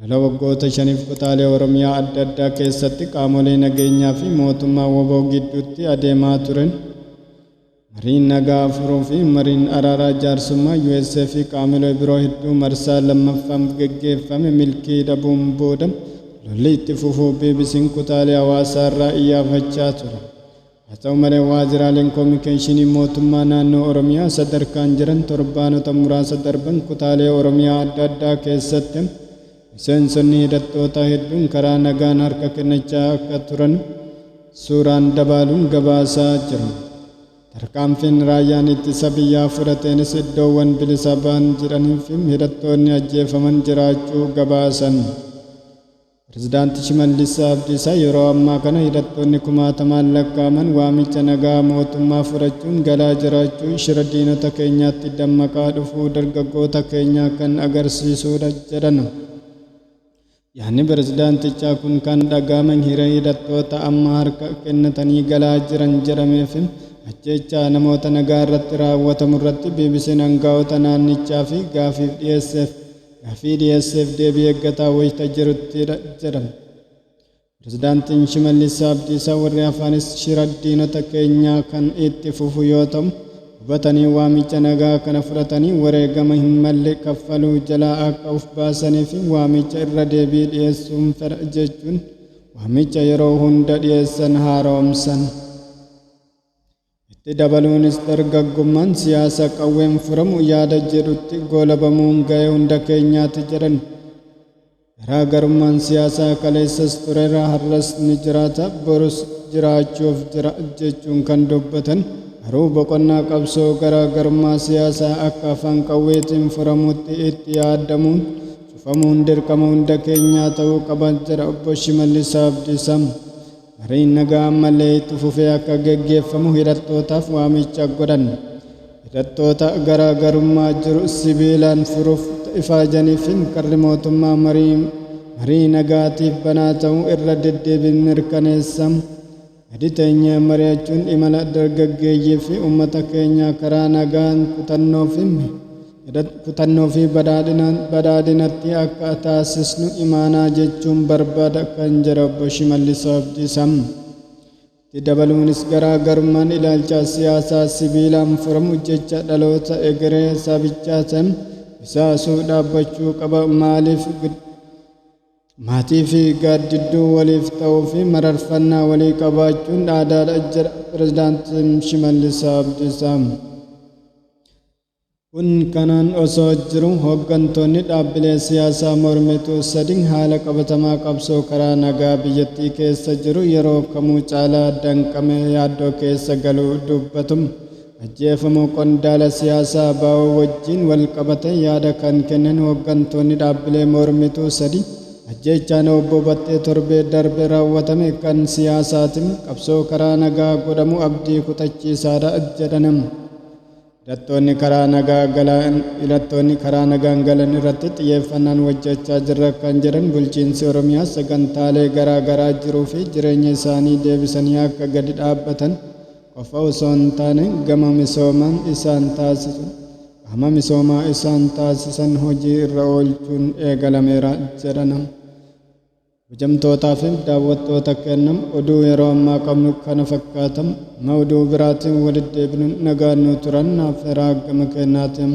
Lola waggoota shaniif kutaalee Oromiyaa adda addaa keessatti qaamolee nageenyaa fi mootummaa wbo gidduutti adeemaa turen mariin nagaa furuu fi mariin araaraa jaarsummaa US fi qaamilee biroo hedduu marsaa lammaffaamf geggeeffame milkii dhabuun booda lolli itti fufuu BBCn kutaalee Hawaasaa irraa iyyaafachaa ture. Haa ta'u malee waajjiraaleen koomikeeshinii mootummaa naannoo Oromiyaa sadarkaan jiran torbaanota muraasa darban kutaalee Oromiyaa adda addaa keessatti miseensonni hidhattootaa hedduun karaa nagaan harka kennachaa akka turan suuraan dabaaluun gabaasaa jiru. Tarkaanfiin raayyaan ittisa biyyaa fudhateenis iddoowwan bilisa bahan jedhaniifi hidhattoonni ajjeefaman jiraachuu gabaasan. Pirezidaanti Shimallis Abdiisa yeroo ammaa kana hidhattoonni kumaatamaan lakkaa'aman waamicha nagaa mootummaa fudhachuun galaa jiraachuu shira diinota keenyaatti dammaqaa dhufuu dargaggoota keenyaa kan agarsiisuudha jedhan. Yaadni pirezidaantichaa kun kan dhaga'ame hiree hidhattoota amma harka kennatanii galaa jiran jedhamee fi ajjeechaa namoota nagaa irratti raawwatamurratti BBCn angaa'ota naannichaa fi gaafiif dhiyeesseef Gaaffii dhiyeesseef deebii eeggataa wayita jiruttidha jedhan Pirezidaantiin Shimallis Abdiisaa. Warri hafaanis shira diinota keenyaa kan itti fufu yoo ta'u, hubatanii waamicha nagaa kana fudhatanii wareegama hin malle kaffaluu jalaa akka of baasaniif waamicha irra deebii dhiyeessuun fedha jechuun waamicha yeroo hunda dhiyeessan haaromsan. Itti dabaluunis dargaggummaan siyaasa qawween furamu yaada jedhutti goolabamuun ga'ee hunda keenyaati jedhan. Garaa garummaan siyaasaa kaleessas tureera, har'as ni jiraata, borus jiraachuuf jira jechuun kan dubbatan garuu boqonnaa qabsoo garaa garummaa siyaasaa akka afaan qawweetiin furamutti itti yaadamuun cufamuun dirqama hunda keenyaa ta'uu qaba jedha Obbo Shimallis Abdiisaa. mariin nagaa ammallee itti fufee akka geggeeffamu hidhattootaaf waamicha godhan. Hidhattoota garaa garummaa jiru sibiilaan furuuf ifaajaniif karri mootummaa marii marii nagaatiif banaa ta'uu irra deddeebiin mirkaneessa. Gadi teenyee mari'achuun imala dargaggeeyyii fi uummata keenyaa karaa nagaan kutannoo fi Kutannoo fi badhaadhinaan badhaadhinatti akka taasisnu imaanaa jechuun barbaada kan jedha Obbo Shimallis Abdiisa. Itti dabaluunis garaa garummaan ilaalcha siyaasaa sibiilaan furamu jecha dhaloota egeree sabichaa san isaasuu dhaabbachuu qaba maaliif maatii fi gaaddidduu waliif ta'uu fi mararfannaa walii qabaachuun aadaadha jedha Pirezidaantiin Shimallis Abdiisa. Kun kanaan osoo jiru hoggantoonni dhaabbilee siyaasaa mormituu sadii haala qabatamaa qabsoo karaa nagaa biyyattii keessa jiru yeroo kamuu caalaa danqamee yaaddoo keessa galuu dubbatu. Ajjeefamuu qondaala siyaasaa abo wajjiin walqabatee yaada kan kennan hoggantoonni dhaabbilee mormituu sadii ajjeechaan Obbo Battee torbee darbe raawwatame kan siyaasaati, qabsoo karaa nagaa godhamu abdii kutachiisaadha jedhan. Hidhattoonni karaa nagaa galan Hidhattoonni karaa nagaan galan irratti xiyyeeffannaan hojjechaa jirra kan jedhan bulchiinsi Oromiyaa sagantaalee garaa garaa jiruu fi jireenya isaanii deebisanii akka gadi dhaabbatan qofa osoo hin taane gama misoomaan isaan taasisu qaama misoomaa isaan taasisan hojii irra oolchuun eegalameera jedhan. Kabajamtootaa fi daawwattoota keenya oduu yeroo ammaa qabnu kana fakkaata. Amma oduu biraatiin walitti deebinu nagaan nuu turan naaf heeraa gama keenyaatiin.